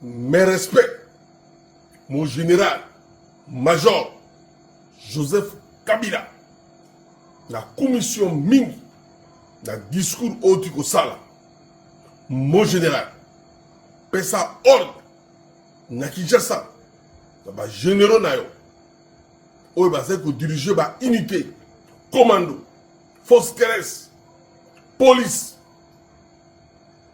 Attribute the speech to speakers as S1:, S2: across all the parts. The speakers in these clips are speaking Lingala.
S1: Mes respects, mon général, major Joseph Kabila, na commission mingi na discours oyo ti kosala mon général pesa ordre na kinshasa na bagénéraux na yo oyo bazali kodirige baunité commando force terrestre police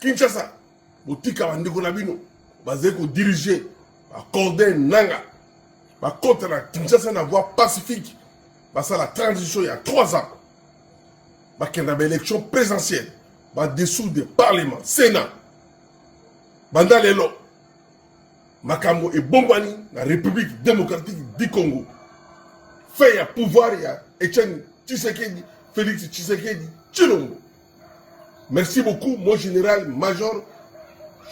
S1: Kinshasa botika bandeko na bino bazali kodirige bacorde nanga bakota na Kinshasa na voie pacifique basala transition ya 3 ans bakenda baélection présidentielle badessoudre parlement sénat banda lelo makambo ebombani na république démocratique du congo fin ya pouvoir ya etienne tshisekedi félix tshisekedi tshilombo Merci beaucoup mon général major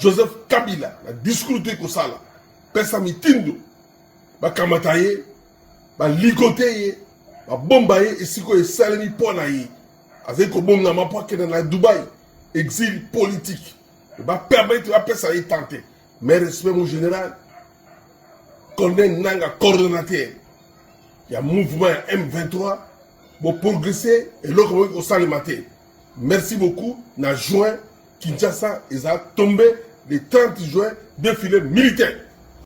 S1: Joseph Kabila na discours toyi kosala pesa mitindo bakamata ye baligote ye babomba ye esika oyo esalemi mpo na ye azali kobongama mpo akenda na dubai exil politique bapermettre bapesa ye temps te mais respect mon général colonel nanga coordonnateur ya mouvement ya m23 Bo progresser eloko boki kosalema te. Merci beaucoup na juin Kinshasa eza tombe le 30 juin défilé militaire.